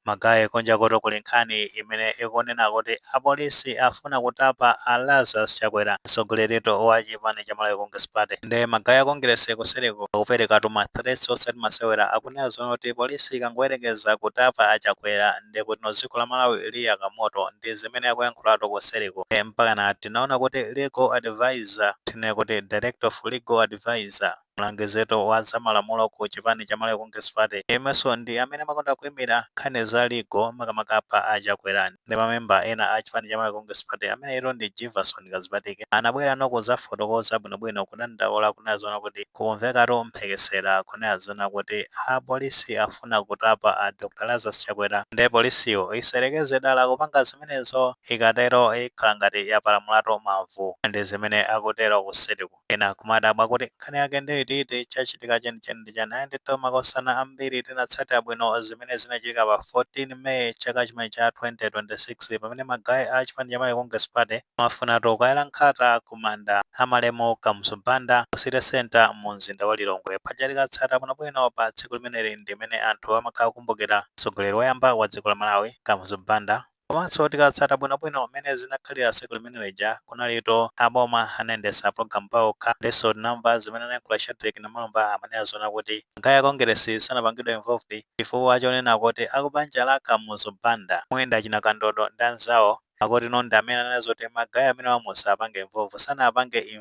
Magaye kunjakutu kuli nkhani imene ikunena kuti apolisi afuna kutapa a Lazarus Chakwera, mtsogoleritu wa chipani cha Malawi Congress Party. Nde magaye a Kongeresi kuseliku akuperekatu ma threats osati masewera. Akunena zoona kuti polisi ikangoyerekeza kutapa a Chakwera nde kutino dziko la Malawi liyaka moto. Ndi zimene akuyankhulatu kuseliku. Mpakana tinaona kuti legal advisor, tinene kuti director of legal advisor, Mlangizitu wa za malamulo ku chipani cha Malawi Congress Party yemwenso ndi amene amakonda kuimira nkhani za legal makamaka pa a Chakwera ndi mamemba ena a chipani cha Malawi Congress Party ameneyitu ndi Jivason Kadzipatike anabwerano kuzafotokoza bwinobwino kudandaula kunena zoona kuti kukumvekatu mphekesera kunena zoona kuti a polisi afuna kutapa a Dr Lazarus Chakwera nde polisiyo isayerekeze dala kupanga zimenezo ikatero ikhala ngati yapalamulatu mavu. Ndi zimene akutero kuseliku. Ena kumadabwa kuti nkhani yake ndi iti iti, chachitika chenicheni ndi chani? Ayi ndithu makosana ambiri tinatsatira bwino zimene zinachitika pa 14 May chaka chimenechi cha 2026 pamene ma guy a chipani cha Malawi Congress Party amafunatu kukayala nkhata ku manda a malemu Kamuzu Banda ku City Centre mu mzinda wa Lilongwe. Paja tikatsata bwino bwino pa tsiku limeneli ndi mene anthu amakhala akukumbukira mtsogoleri woyamba wa dziko la Malawi Kamuzu Banda. Komanso tikatsata bwinobwino mmene zinakhalira tsiku limene lija, kunalitu aboma anayendetsa pulogalamu paokha. Ndenso tinamva zimene anayankhula Shadric Namalomba amanena zoona kuti magaye a Kongeresi sanapangidwe involved chifukwa chonena kuti akubanja la Kamuzu Banda, mwina achina Kandodo ndi anzawo akutino ndi amene ananena zoti magaye amenewa musawapange involve. Sanapange in.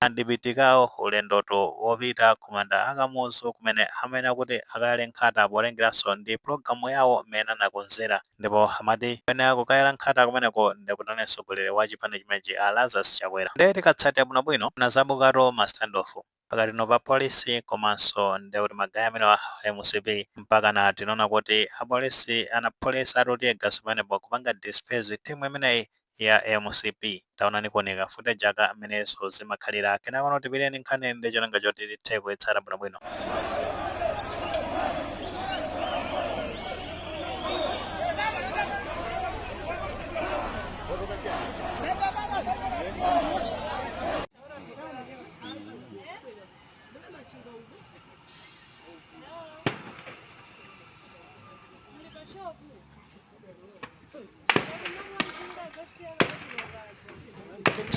Andipitikawo ulendotu wopita kumanda a Kamuzu kumene amayenera kuti akayale nkhata potengeranso ndi pulogalamu yawo mmene anakonzera ndipo amati amene akukayala nkhata kumeneko ndi kutino mtsogoleri wa chipani chimenechi a Lazarus Chakwera nde tikatsatira bwinobwino panazabukatu ma standoff pakatino pa polisi komanso nde kuti ma guy amenewa a mcp mpakana tinaona kuti apolisi anaphulisatu teargas pamenepo kupanga disperse team imeneyi ya mcp taonani kuoneka footage aka a mmenenso zimakhalira kenakono tiphireni nkhani ndi cholinga choti tithe kuyitsata bwinobwino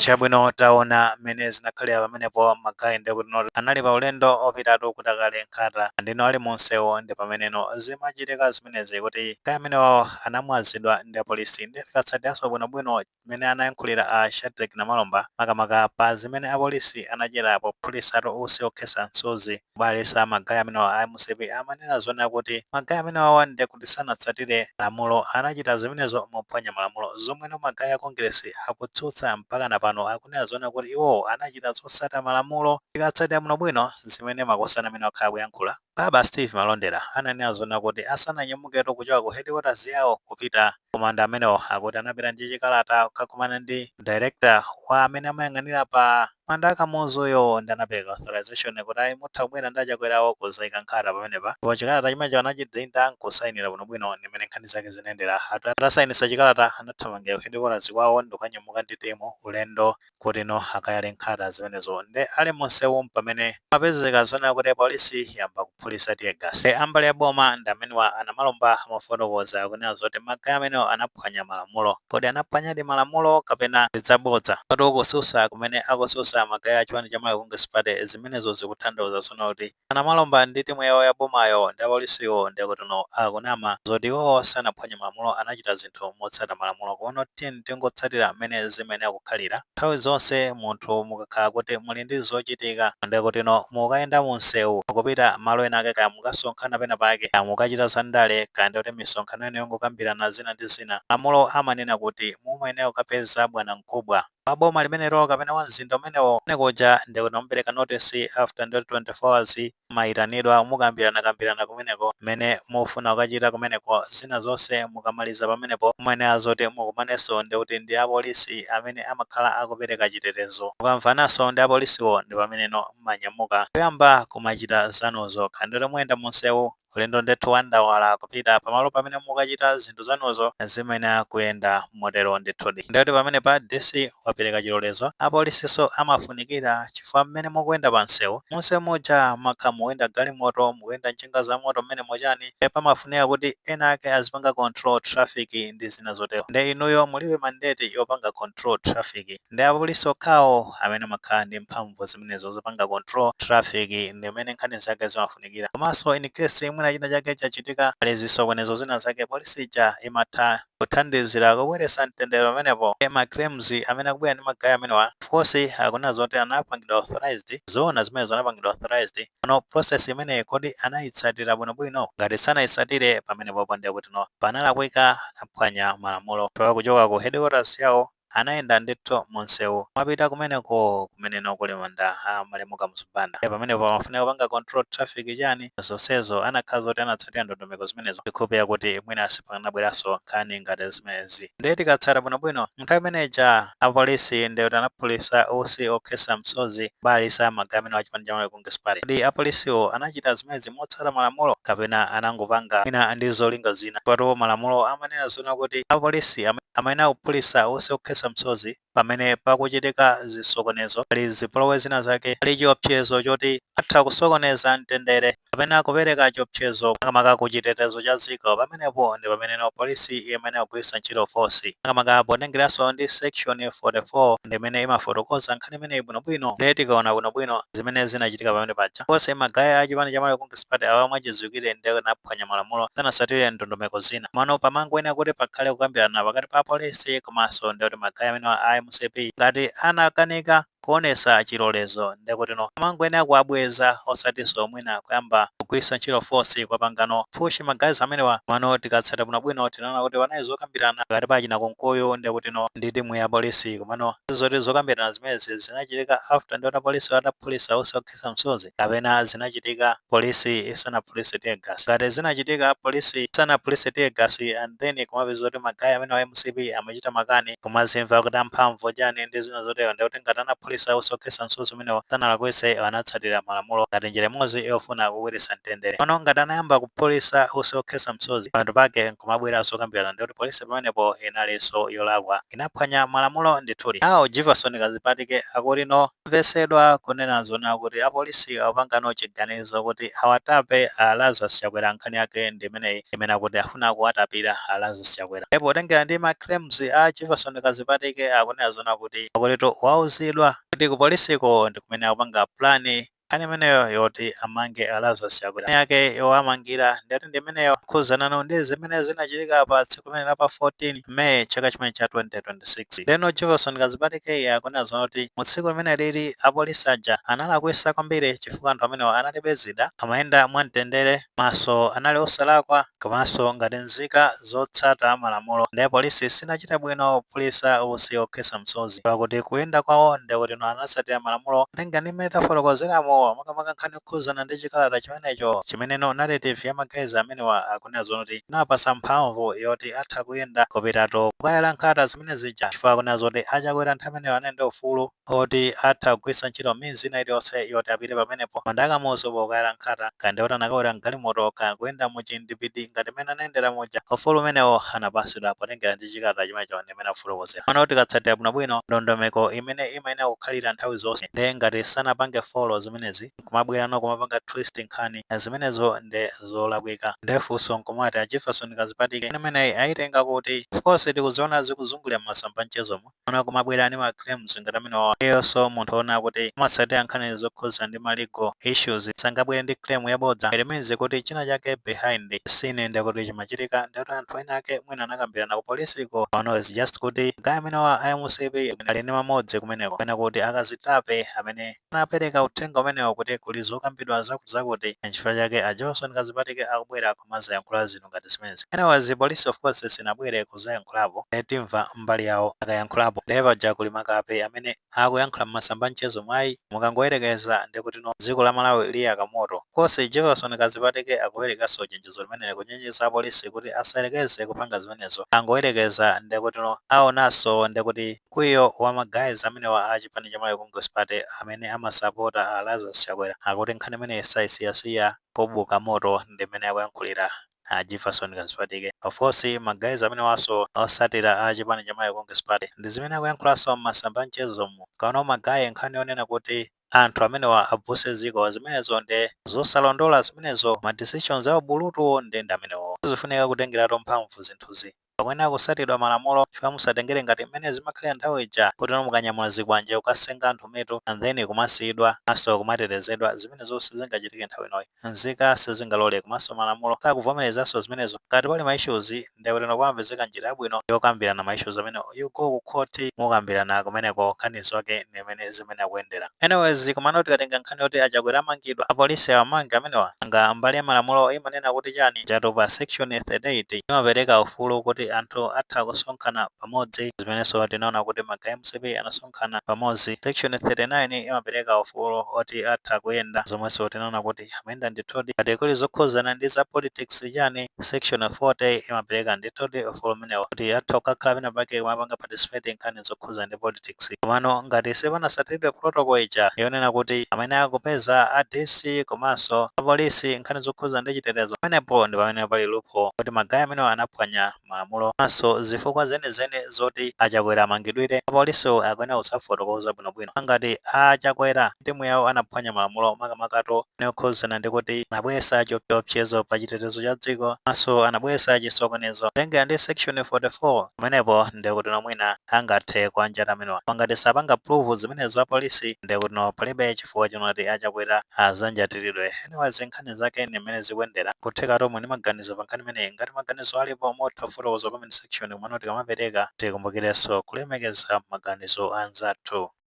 chabwino taona mmene zinakhalira pamenepo magayi ndi kutino anali pa ulendo opitatu kuti akayale nkhata ndino ali munsewo ndi pameneno zimachitika zimenezi kuti magayi amenewawo anamwazidwa ndi apolisi ndiye tikatsatiranso bwinobwino mmene anayankhulira a Shadreck Namalomba makamaka pa zimene apolisi anachita pophulisatu usi okhetsa msozi kubalalitsa magayi amenewa a mcp amanena zonena kuti magayi amenewawa nde kuti sanatsatire malamulo anachita zimenezo mophwanya malamulo zomweno magayi a Kongeresi akutsutsa mpakana pano akunena zonena kuti iwowo anachita zotsata malamulo tikatsatira bwino bwino zimene makosana amene wakhala akuyankhula Baba Steve Malondera ananena zonena kuti asananyamuketu kuchoka ku headquarters yawo kupita komanda amenewo akuti anapita ndi chikalata kukakumana ndi director wa amene amayang'anira pa manda a kamuzuyo ndi anapereka authorization kuti ayi mutha kubwera ndi achakwerawo kuzaika nkhata pamenepa ndipo chikalata chimenecho anachidinda nkusayinira bwinobwino ndi mmene nkhani zake zinayendera Ata- atasayinisa chikalata anathamangira ku headquarters kwawo ndikukanyamuka ndi timu ulendo kutino akayale nkhata zimenezo nde ali munsewu mpamene mapezeka zonena kuti apolisi yamba kuphulisa teargas nde ambali ya boma ndi amenewa a Namalomba amafotokoza kunena zoti magayi amenewo anaphwanya malamulo kodi anaphwanyadi malamulo kapena ndi zabodza poti kususa kumene akususa magayi a chipani cha malawi congress party zimenezo zikuthandauza zonena kuti A Namalomba ndi timu yawo ya bomayo ndi apolisiwo ndekutuno akunama zoti iwowo sanaphwanye malamulo anachita zinthu motsata malamulo kono tiyeni tingotsatira mmene zimayenera kukhalira nthawi zonse munthu mukakhala kuti muli ndi zochitika ndekutino mukayenda mu msewu mukupita malo ena ake kaya mukasonkhana pena pake kaya mukachita za ndale kaya ndikuti misonkhano yanu yongokambirana zina ndi zina malamulo amanena kuti mumayenera kukapeza bwanamkubwa wa boma limenelo kapena wa mzinda umenewo, kumene kuja ndiye kuti mumapereka notice after ndithu 24 hours mumayitanidwa mukambiranakambirana kumeneko mmene mufuna kukachita kumeneko, zina zonse mukamaliza pamenepo mumayenera zoti mukumanenso ndikuti ndi a polisi amene amakhala akupereka chitetezo. Mukamvananso ndi a polisiwo ndi pameneno mmanyamuka kuyamba kumachita zanuzo, kaya ndikuti muyenda mu msewu, Ulendo ndithu wa ndawala kupita pamalo pamene mukachita zinthu zanuzo zimayenera kuyenda motero ndithudi. Ndiye kuti pamenepa DC wapereka chilolezo, apolisinso amafunikira chifukwa mmene mukuyenda pamsewu, munsewu muja makhala mukuyenda galimoto, mukuyenda njinga zamoto mmenemo chani ndiye pamafunika kuti enaake azipanga control traffic ndi zina zotero ndiye inuyo mulibe mandate yopanga control traffic. Ndi apolisi okhawo amene amakhala ndi mphamvu zimenezo zopanga control traffic ndi mmene nkhani zake zimafunikira. Komanso in case mwina china chake chachitika pali zisokonezo zina zake police ija imatha kuthandizira kubweretsa mtendere pamenepo ndiye ma claims amene akubwera ndi ma guy amenewa of course akunena zoti anapangidwa authorized zoona zimenezo anapangidwa authorized pano process imeneyi kodi anayitsatira bwinobwino? Ngati sanayitsatire pamenepopo ndiye kutino panalakwika anaphwanya malamulo chifukwa kuchoka ku headquarters yawo Anayenda ndithu mu msewu kumapita kumeneko kumene no kuli manda a malemu Kamuzu Banda. Ndiye pamenepo pamafunika kupanga control traffic chani zonsezo anakhala zoti anatsatira ndondomeko zimenezo ndikhulupirira kuti mwina sipakanabweranso nkhani ngati zimenezi. Ndiye tikatsata bwinobwino nthawi imene ija a polisi ndiye kuti anaphulisa usi okhetsa msozi kubalalitsa magaya amenewa a chipani cha Malawi Congress Party. Kodi a polisiwo anachita zimenezi motsata malamulo kapena anangopanga mwina ndi zolinga zina chifukwa tu malamulo amanena zoona kuti a polisi amayenera kuphulisa usi okhetsa msozi pamene pakuchitika zisokonezo, pali zipolowe zina zake, pali chiopsezo choti atha kusokoneza mtendere kapena kupereka chiopsezo makamaka ku chitetezo cha dziko, pamenepo ndi pameneno polisi imayenera kugwiritsa ntchito force, makamaka potengereanso ndi section 44 ndi imene imafotokoza nkhani. nkhani imeneyi bwinobwino ndiye tikaona bwinobwino zimene zinachitika pamene paja onse magaya a chipani cha Malawi Congress Party awa mwachidziwikire ndikuti anaphwanya malamulo sanasatire ndondomeko zina mano pamangoyenera kuti pakhale kukambirana pakati pa apolisi komanso ndi kuti magaya amenewa a mcp ngati anakanika kuonesa chilolezo ndekutino pamangoyenera kuwabweza osatinso mwina kuyamba kugwiritsa ntchito force kuwapangano push ma guys amenewa komano tikatsata bwino bwino tinaona kuti panali zokambirana pakati pa achina Kunkuyu ndi kutino ndi timu ya polisi komano zoti zokambirana zimenezi zinachitika after ndiona polisi ataphulisa usi okhetsa msozi kapena zinachitika polisi isanaphulise tear gas ngati zinachitika polisi isanaphulise tear gas and then kumapeza kuti magayi amenewa a mcp ama chita makani, kumazimva kuti amphamvu chani ndi zina zotero ndekuti ngati anaphulisa utsi okhetsa msozi umenewo sanalakwitse anatsatira malamulo ngati njira imodzi yofuna kubweretsa mtendere pano ngati anayamba kuphulisa utsi okhetsa msozi pamapeto pake nkumabweranso kukambirana ndekuti polisi pamenepo inalinso yolakwa inaphwanya malamulo ndithudi now Jivason Kazipatike akuti no Tamvesedwa kunena zoona kuti apolisi akupangano chiganizo kuti awatape a Lazarus Chakwera nkhani yake ndi imeneyi imene akuti afuna kuwatapira a Lazarus Chakwera nde potengera ndi ma claims a Jivason Kazipatike akunena zoona kuti akutitu wauzidwa kuti ku polisiko ndi kumene akupanga plan nkhani imeneyo yoti amange a Lazarus Chakwera nkhani yake yowamangira ndiyoti ndi imeneyo kukhuzanano ndi zimene zinachitika pa tsiku limeneli la pa 14 May chaka chimene cha 2026. Ndeno Jivason Kazipatike akunena zoona kuti mu tsiku limene lili apolisi aja analakwisa kwambiri chifukwa anthu amenewa analibe zida, amayenda mwa mtendere komanso anali osalakwa komanso ngati nzika zotsata malamulo nde polisi sinachite bwino kuphulisa usi okhetsa msozi pakuti kuyenda kwawo ndekutino anatsatira malamulo potengera ndi mmene tafotokozeramu makamaka nkhani Yokhuzana ndi chikalata chimenecho chimene no narrative ya ma guys amenewa akunena zoona kuti chinawapasa mphamvu yoti atha kuyenda kupitatu kukayala nkhata zimene zija chifukwa akunena zoti a Chakwera nthawi imeneyo anali ndi ufulu oti atha kugwiritsa ntchito means ina iliyonse yoti apite pamenepo manda a Kamuzu pokayala nkhata kaya ndikuti anakawera mgalimoto kaya kuyenda mu chindipiti ngati mmene anayendera muja ufulu umenewo anapasidwa potengera ndi chikalata chimenecho and imene akufotokozera pano tikatsatira bwinobwino ndondomeko imene imayenera kukhalira nthawi zonse nde ngati sanapange folo zimenezi nkumabweranso kumapanga twist nkhani zimenezo nde zolakwika nde funso nkumati a jefferson kazipatike imeneyi ayitenga kuti of course tikuziona zikuzungulira m'masamba mchezomo ona kumabwera ni ma claims ngati amenewa iwonso munthu ona kuti amatsatira nkhani zokhuza ndi ndi ma legal issues sangabwere ndi claim yabodza it means kuti china chake behind the scene nde kuti chimachitika nde kuti anthu ena ake mwina anakambirana ku polisiko or no it's just kuti guy amenewa a mcp ali ndi mamodzi kumeneko kapena kuti akazitape amene anapereka uthenga umenewo kuti kuli zokambidwa zakuti zakuti nchifukwa chake a johnson kazipatike akubwera kumazayankhula zinthu ngati zimenezi anyways polisi of course sinabwere kuzayankhulapo nde timva mbali yawo akayankhulapo nde paja kuli makape amene akuyankhula mmasamba anchezo mu ayi mukangoyerekeza ndekutino dziko la Malawi liyaka moto. Kosi Jefferson Kazipatike akuperekanso chenjezo limeneli kuchenjeza apolisi kuti asayerekeze kupanga zimenezo angoyerekeza ndekutino awonanso ndekuti mkwiyo wa ma guys amenewa a chipani cha Malawi Congress Party amene amasapota a Lazarus Chakwera akuti nkhani imeneyi sayisiyasiya kubuka moto ndimmene akuyankhulira a a Jefferson Kazipatike, of course ma guys amenewanso osatira a chipani cha Malawi Congress Party ndi zimene akuyankhulanso mmasamba a mchezomu, komano ma guy nkhani yonena kuti anthu amenewa abvutse dziko zimenezo nde zosalondola zimenezo, ma decisions a ubulutu nde ndi amenewo, sizifunika kutengeratu mphamvu zinthuzi. Pakuyenera kusatidwa malamulo chifukwa musatengere ngati mmene zimakhalira nthawi ija kuti no mukanyamula zikwanje kukasenga anthu mitu and then kumasiyidwa komanso kumatetezedwa zimenezo sizingachitike nthawi inoyi nzika sizingalole komanso malamulo sakuvomerezanso zimenezo ngati pali ma issues nde bwino pamapezeka njira yabwino yokambirana ma issues amenewo you go ku court mukambirana kumeneko nkhanizo ndi imene zimene akuyendera anyways komano tikatenga nkhani yoti achakwera amangidwa apolisi awamange amenewa nanga mbali ya malamulo imanena kuti chani chapter section 38 imapereka ufulu kuti anthu atha kusonkhana pamodzi zimenenso tinaona kuti ma guy a mcp anasonkhana pamodzi section 39 imapereka ufulu oti atha kuyenda zomwenso tinaona kuti amayenda ndithudi ngati kuli zokhuzana ndi za politics chani section 40 imapereka ndithudi ufulu umenewo kuti atha kukakhala pena pake kumapanga participate nkhani zokhuzana ndi politics komano ngati sipanasatiridwe protocol ija yonena kuti amene akupeza a DC komanso a police nkhani zokhuzana ndi chitetezo pamenepo ndipamene pali loophole kuti ma guy amenewa anaphwanya malamulo komanso zifukwa zenizeni zoti a Chakwera amangidwire, apolisiwo akuyenera kudzafotokoza bwinobwino ngati a Chakwera ndi timu yawo anaphwanya malamulo makamakatu nkhani yokhudzana ndi kuti anabweretsa chiopsezo pa chitetezo cha dziko komanso anabweretsa chisokonezo. Kutengera ndi section 44, pamenepo ndiye kutino mwina angathe kuwanjata amenewa koma ngati sapanga prove zimenezo apolisi, ndiye kutino palibe chifukwa chonati a Chakwera adzanjatiridwe. Anyways, nkhani. nkhani zake ndi mmene zikuyendera kutheka tomwe tili ndi maganizo pa nkhani imeneyi ngati maganizo alipo mutha kufotokoza comment section komano tikamapereka tikumbukirenso kulemekeza maganizo a anzathu